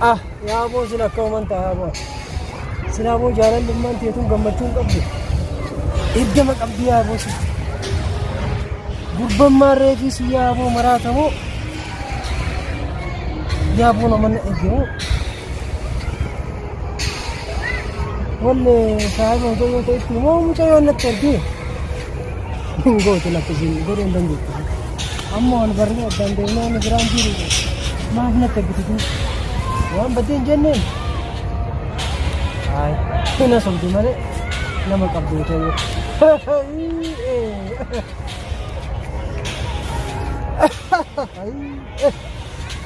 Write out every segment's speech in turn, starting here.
Ah, yaa boo sin akka uuman ta'a boo. Silaa boo jaalalummaan teetuun gammachuu hin qabdu. Eeggama qabdi yaa boo sin. Gurbammaa reefii si yaa boo maraatamu. Yaa boo nama na eeggamu. Wallee saayiba mucayyoo ta'etti moo mucayyoo natti ergee? Gooti lakkisiin godheen dan jechuudha. Amma ol barree addaan deemnee inni biraan jiru maaf natti abbititu waan baddeen jenneen. Ayi hina sobdu malee nama qabdu ta'e. Ayi.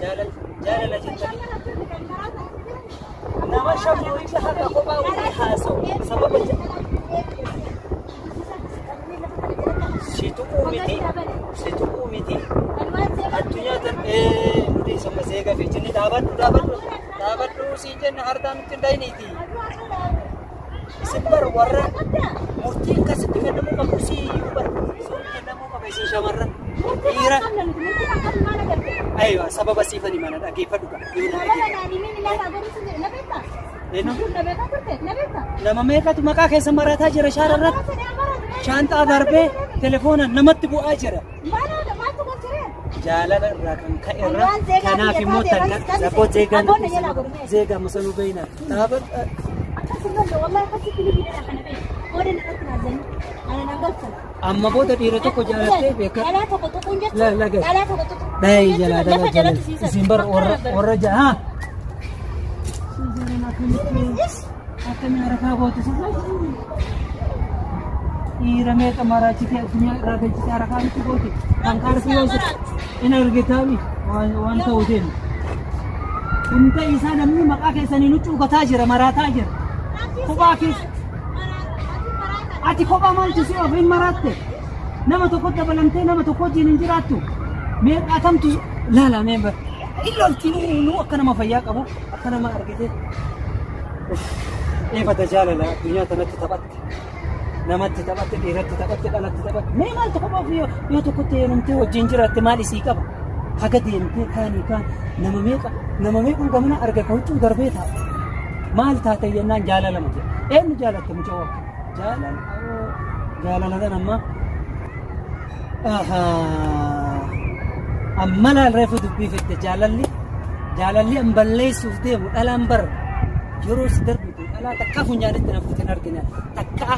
jaalala jettanii nama shafuu itti haqa kophaa walii haasa'u sababa si tuquu miti si tuquu miti addunyaa tan ee nuti summa seega fi jinni dhaabadhu dhaabadhu dhaabadhu siin jenna hartaa nutti hin dhayiniiti. isin bar warra murtii akkasitti kennamuu qabu si iyyuu bar sun kennamuu qaba isin shamarra dhiira aywa sababa siifani mana dhageeffadhu qaba yoo na dhageeffadhu nama meeqatu maqaa keessa marataa jira shaara irratti shaanxaa darbee telefoona namatti bu'aa jira jaalala irraa kan ka'e irra kanaaf immoo takka rakkoo zeegaa nu dhiisina zeegaa musa nu beeyna dhaaba amma booda dhiira tokko jaalattee beeka la la gai dai jala dala jala isin bar warra warra jaha Akkamii harafaa gootu sirra dhiira meeqa maraachite addunyaa irraa galchite harafaa miti goote kan kaarsi yoo hin argitaami waan ta'u deemu. Hunda isaa namni maqaa keessanii nu cuugataa jira maraataa jira. Kophaa keessa. Ati kophaa maaltu si ofiin maraatte? Nama tokko dabalamtee nama tokko wajjin hin jiraattu. Meeqaa kamtu laala mee bara. Illoolti nu akka nama fayyaa qabu. akka nama argite eefata jaalala addunyaa tanatti taphatte namatti taphatte dhiiratti taphatte dhalatti taphatte mee maaltu qaba ofii yoo yoo tokkotti heerumtee wajjin jiraatte maal isii qaba haga deemtee kaanii kaan nama meeqa nama meeqan gamana arga ka huccuu darbee taate maal taate jennaan jaalala mute eenyu jaalatte mucaa jaalala jaalala tan ammaa Amma laal reefu dubbii fidde jaalalli jaalalli an balleessuuf deemu dhalaan bar yeroo si darbitu dhalaa takkaa funyaanitti na fuute hin argine takkaa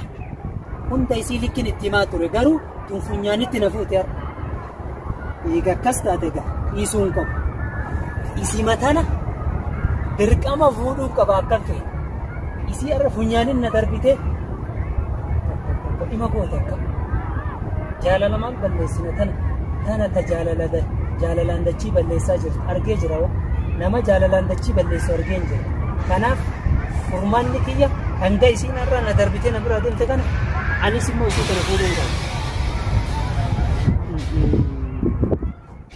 hunda isii likkin itti himaa ture garuu tun funyaanitti na fuute har'a. Eega akkas taate egaa dhiisuun qabu. Isii matana dirqama fuudhuu qaba akkan ta'e. Isii arra funyaanin na darbite ima goote akka jaalala maal balleessina tana tana ta jaalala da jaalalaan dachii balleessaa jirtu argee jira hoo nama jaalalaan dachii balleessu argeen jira kanaaf furmaanni kiyya hanga isiin arra na darbite na bira deemte kana anis immoo isii kana fuudhuu hin qabu.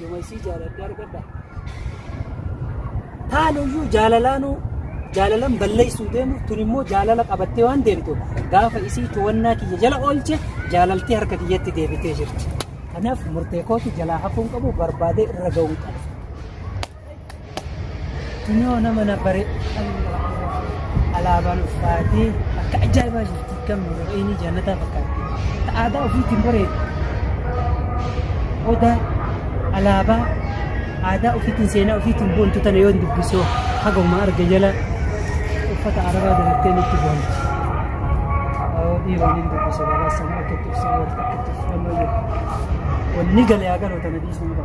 Yoman sii jaaladhe argadha. Taanuyyuu jaalalaanuu jaalalan balleessuu deemu tun immoo jaalala qabattee waan deemtu gaafa isii to'annaa kiyya jala oolche jaalaltee harka kiyyatti deebitee jirti. Kanaaf murtee kootu jalaa hafuun qabu barbaadee irra ga'uun qaba. Kunoo nama na bare alaabaan uffaatee akka ajaa'ibaa jirti kan mura'inii jaannataa fakkaatti. Akka aadaa ofiitiin bareedu. Odaa alaabaa aadaa ofiitiin seenaa ofiitiin boontu tana yoo dubbisoo haguma arge jala uffata arabaa dalattee nutti boonti. Awoo dhiiroo ni dubbisa garaa sana akka itti ibsu akka itti ibsu amma jiru. Wanni galee haa galoo tana dhiisuu qaba.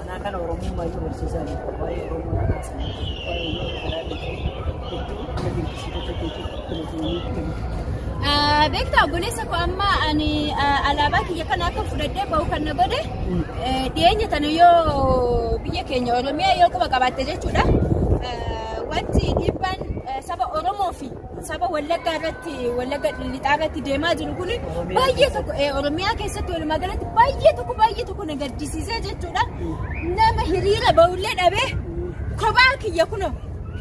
Anaa kana Oromummaa iyyuu barsiisaa jirtu. Waa'ee Oromoo na kaasan. Waa'ee uummata kanaa beektu. Hedduu na dinqisiifata jechuudha. Filatanii kennu. Beektaa obboleessa koo amma ani alaabaa kiyya kana akka fudhadhee bahu kan na godhe dhiyeenya tana yoo biyya keenya Oromiyaa yoo quba qabaatte jechuudha. Wanti dhiibbaan saba Oromoo fi saba wallaggaa irratti wallagga lixaa irratti deemaa jiru kun baay'ee tokko eh, oromiyaa keessatti walumaa galatti baay'ee tokko baay'ee tokko na gaddisiisee jechuudha nama hiriira ba'ullee dhabee kophaa kiyya kuno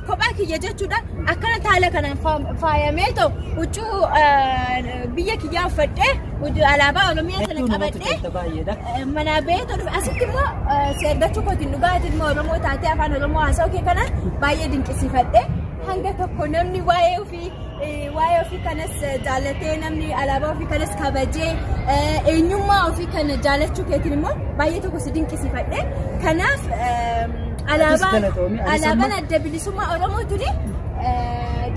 kophaa kiyya jechuudha akkana taala kanaan faam- faayamee ta'u huccuu eh, biyya kiyyaa uffadhee huccuu alaabaa oromiyaa sana Hedduu namatti qabadhee tolta baay'eedha. Eh, manaa ba'ee tolu asitti immoo eh, si argachuu kootiin dhugaatiin immoo oromoo taatee afaan oromoo haasa'uu kee kana baay'ee dinqisiifadhe Hanga tokko namni waa'ee ofii waa'ee ofii kanas jaallatee namni alaabaa ofii kanas kabajee eenyummaa ofii kana jaallachuu keetiin immoo baay'ee tokko si dinqisiifadhe. Kanaaf alaabaan alaabaan adda bilisummaa Oromoo tuni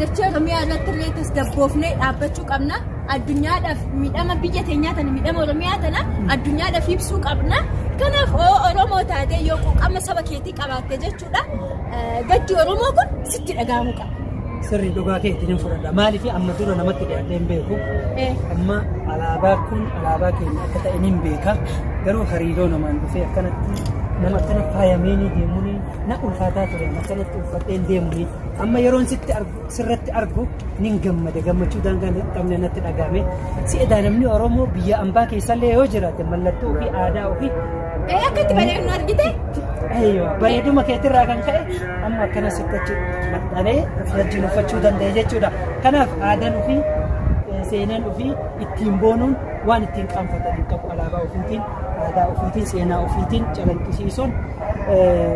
dachee Oromiyaa irratti illee tasgabboofnee dhaabbachuu qabna. Addunyaadhaaf miidhama biyya teenyaa tana miidhama Oromiyaa tana addunyaadhaaf ibsuu qabna. Kanaaf Oromoo taatee yoo quuqama saba keetii qabaatte jechuudha. Gaddi Oromoo kun sitti dhaga'amuu qaba. Sirri dhugaa keetti ni fudhadha. Maaliif amma dura namatti dhiyaatee hin beeku. Amma alaabaa kun alaabaa keenya akka ta'e ni beeka. Garuu hariiroo namaan dhufee akkanatti nama akkana faayamee ni deemuun na ulfaataa ture. Akkanatti uffadhee hin deemuun amma yeroon sitti argu. sirratti argu nin gammada gammachuu daangaa hin qabne natti dhagahame si edaa namni oromoo biyya ambaa keessallee yoo jiraate mallattoo ofii aadaa ofii Ee akka itti bareednu argite? Eeyyoo, bareeduma keetirraa kan ka'e amma akkana sittachi maxxanee wajjin uffachuu danda'e jechuudha. Kanaaf aadaan ofii eh, seenaan ofii ittiin boonuun waan ittiin qaanfatan hin qabu. Alaabaa ofiitiin, aadaa ofiitiin, seenaa ofiitiin calanqisiisuun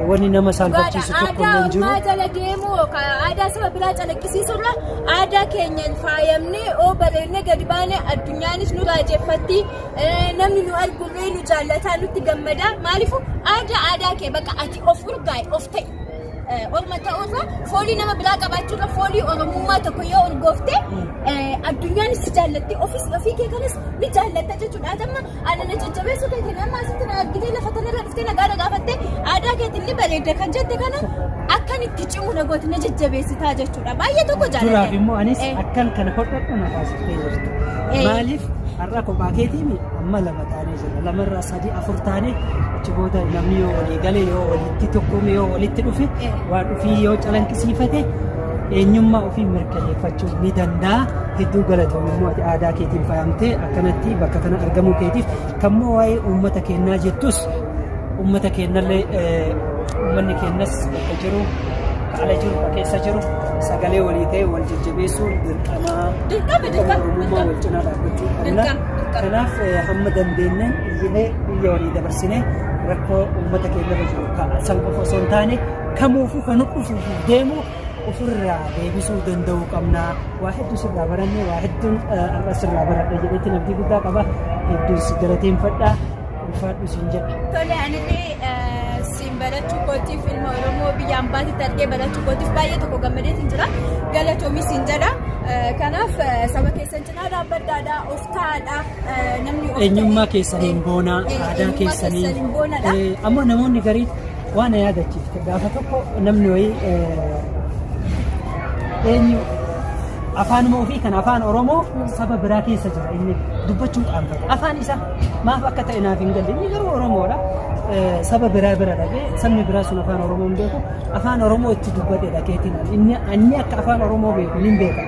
wanni nama saalfachiisu tokko illee hin jiru. Aadaa jala deemuu aadaa saba biraa calaqqisiisurra aadaa keenyaan faayamnee oo bareennee gadi baanee addunyaanis nu raajeffatti namni nu argullee nu jaallataa nutti gammada maaliifuu aadaa aadaa kee bakka ati of urgaa'i of ta'i. Orma ta'uurra foolii nama biraa qabaachuurra foolii Oromummaa tokko yoo urgoofte addunyaan si jaallatti ofis ofii kee kanas ni jaallatta jechuudha. Atamma ana na jajjabeessuu keetiin amma asitti na argitee lafa tanarra dhuftee nagaa na gaafattee aadaa keetiin ni bareedda kan jette kana akkan itti cimu na gooti na jajjabeessitaa jechuudha. Baay'ee tokko Duraaf jaalladhe. immoo anis Eh. akkan kana hodhadhu na taasiftee jirti. Eh. Maaliif har'a kophaa keetiin amma lama taanee jirra. Lamarraa sadii afur taane achi booda namni yoo walii gale yoo walitti tokkoome yoo walitti dhufe waan ofii yoo calanqisiifate eenyummaa ofii mirkaneeffachuu ni danda'a. Hedduu galatoom immoo ati aadaa keetiin faayamtee akkanatti bakka kana argamuu keetiif kan immoo waa'ee uummata keenyaa jettus uummata keennallee uummanni keennas bakka jiru ala jiru keessa jiru sagalee walii ta'e wal jajjabeessuun dirqamaa dirqama dirqama wal cinaa dhaabbachuu qabna. Kanaaf hamma dandeenyeen iyyinee biyya walii dabarsinee rakkoo uummata keenya irra jiru kana san qofa osoo hin taane kamuufuu kan dhufuuf deemu ofirraa deebisuu danda'uu qabna. Waa hedduu sirraa barannee waa hedduun har'a sirraa baradha jedheetti namtii guddaa qaba. Hedduun si galateeffadha. Ulfaadhu siin jedha. Tole anillee siin barachuu kootiif ilma Oromoo biyya ambaatitti argee barachuu kootiif baay'ee tokko gammadee siin jira. Galatoomi siin jedha. Kanaaf saba keessan Aadaa baddaadha, of taa'aadha. Namni of Eenyummaa ta'e- keessaniin boonaa, Eh, aadaa eenyummaa keessaniin. keessaniin boonadha. Eh, Ammoo namoonni garii waan na yaadachiifte gaafa tokko namni wayii eh, eenyu afaanuma ofii kan afaan Oromoo saba biraa keessa jira inni dubbachuu qaanfata. Afaan isaa maaf akka ta'e naaf hin galle. Inni garuu Oromoodha. Eh, Saba biraa bira dhaqee sabni biraa sun afaan Oromoo hin beeku. Afaan Oromoo itti dubbate dhaqeetiin inni inni akka afaan Oromoo beeku hin beeku.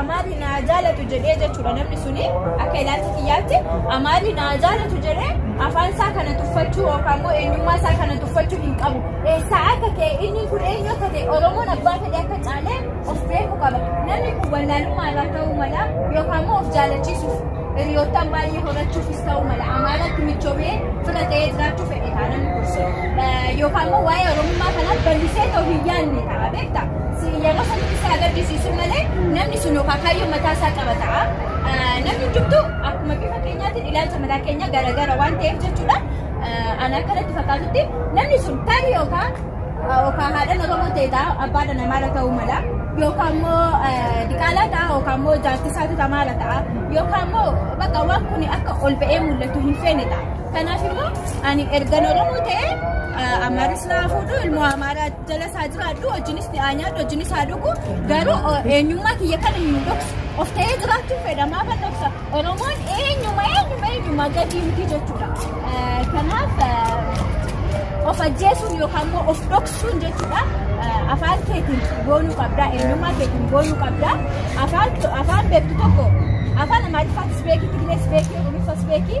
Amaarri naa jaalatu jedhee jechuudha namni suni akka ilaalcha kiyyaatti amaarri naa jaalatu jedhee afaan isaa kana tuffachuu yookaan immoo eenyummaa isaa kana tuffachuu hin qabu. Eessaa akka ta'e inni kun eenyu akka ta'e Oromoon abbaa fedhe akka caalee of beeku qaba. Namni kun wallaalummaa irraa ta'uu mala yookaan immoo of jaalachiisuuf hiriyoottan baay'ee horachuufis ta'uu mala. Amaaratti michoomee fira ta'ee jiraachuu fedhe ta'a namni kun. Yookaan immoo waa'ee Oromummaa kanaa bal'isee ta'u hin yaadne ta'a. Beektaa? Sin yeroo sanitti si agarsiisu malee namni sun yookaan kaayyoo mataa isaa qaba ta'a. Ah, Namni hundumtu akkuma bifa keenyaatiin ilaalcha mataa keenya garaagara waan ta'eef jechuudha. Ah, Ana akka natti fakkaatutti namni sun tarii yookaan ah, yookaan haadha Oromoo ta'e ta'a abbaa dhala maala ta'uu mala. Yookaan immoo ah, diqaalaa ta'a yookaan immoo jaartisaa tuta maala ta'a. Yookaan immoo bakka waan kun akka ol ba'ee mul'atu hin feene ta'a. Kanaaf immoo ani ergan Oromoo ta'ee ah, Amaaris naa fuudhu ilmoo Amaaraatti. jala isaa jiraadhu hojiinis haa nyaadhu hojiinis haa dhugu garuu eenyummaa kiyya kan hin dhoksu of ta'ee jiraachuun fedhamaa kan dhoksa oromoon eenyuma eenyuma eenyuma gadii miti jechuudha kanaaf of ajjeesuun yookaan immoo of dhoksuun jechuudha afaan keetiin goonuu qabdaa eenyummaa keetiin goonuu qabdaa afaan afaan beektu tokko afaan amaariffaatis beekii tigrees beekii oromoofaas beekii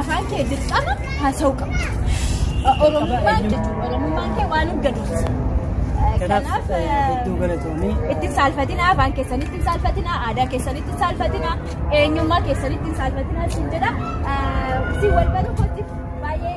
Afaan kee dirqama haasa'uu qabda. Oromummaan jechuudha. Oromummaan kee waan hin gaduuti. Kanaaf hedduu galatoomii. Itti hin saalfatinaa, afaan keessan itti hin saalfatinaa, aadaa keessan itti hin saalfatinaa, eenyummaa keessan itti hin saalfatinaa siin jedha. Si wal baruu kootiif baay'ee